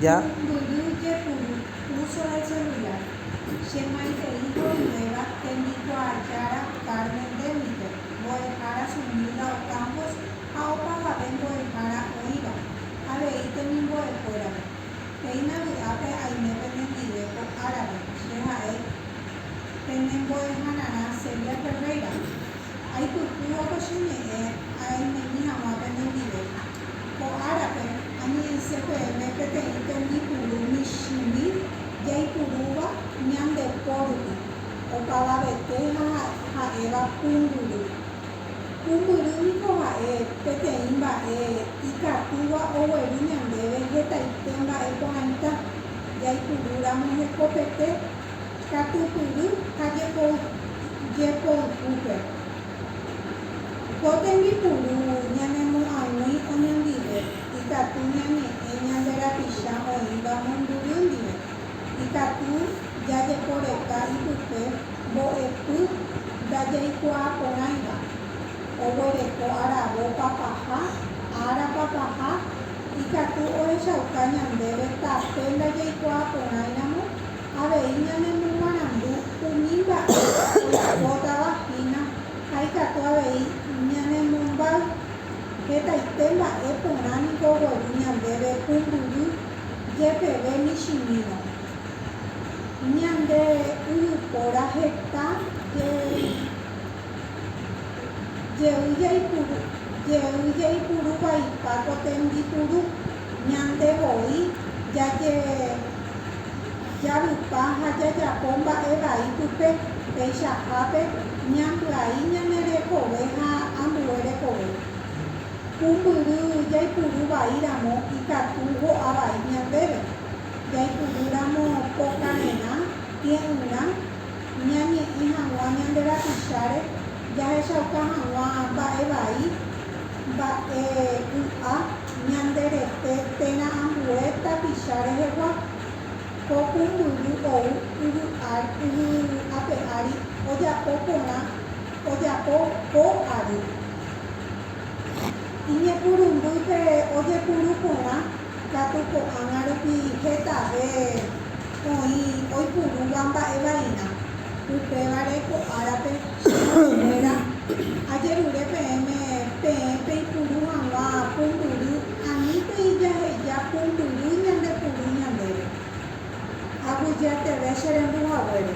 Ja. Mbyju jepuru, uso de celular. Che mãe he'i ho'ỹvéva tembikuaajára Carmen Demiker, mbo'ehára sumílda Ocampos ha opavave mbo'ehára oĩva, avei temimbo'ekuérape. Péina vy'ápe aime penendive ko árape, che ha'e pene mbo'ehanarã Celia Ferreira. Aipyhúva ko che ñe'ẽ aimemi hag̃ua penendive. Ko árape, añe'ẽse peẽme peteĩ tembipuru michĩmi jaipurúva ñande po rupi, opavavete ha ha'éva pumbyry. Pumbyry niko ha'e peteĩ mba'e ikatúva ogueru ñandéve hetaite mba'e porãita, jaipuru ramo hekopete, katupyry ha jepoypúpe. Ko tembipuru ñanemo'ag̃ui oñondive ikatu ñañe'ẽ ñande rapicha oĩva mombyry ndive. Ikatu jajeporeka ipype mbo'epy ndajaikuaa porãiva, oguereko aravo papaha, ára papaha, ikatu ohechauka ñandéve tape ndajaikuaa porãiramo Avei ñanemomarandu umi mba'e oipotava hína ha ikatu avei ñanemombáy. Hetaite mba'e porã niko ogueru ñandéve pumbyry jepeve michĩmírõ. Ñande yvypóra heta jey jaipuru vaipa ko tembipuru. Ñande voi jajejavypa ha jajapo mba'e vai pype, peichahápe, ñambyai ñane rekove ha ambue rekove. Pumbyry jaipuru vai ramo ikatu ho'a vai ñandéve. Jaipuru ramo pokarerã, tie'ỹrã, ñañe'ẽ hag̃ua ñande rapicháre, jahechauka hag̃ua mba'e vai. Mba'e ky'a ñande rete térã ambue tapicha rehegua. Ko pumbyry ou yvy ape ári ojapo porã ojapo po ary. Iñepyrũmbýpe ojepuru porã Katu ko'ág̃a rupi hetave oĩ oipurúva mba'e vaína. Upévare ko árape, chemoñe'ẽkuéra, ajerure peẽme peẽ peipuru hag̃ua pumbyry ani peijaheja pumbyry ñande puru ñandéve. Aguyjéteve che rembuhaguére.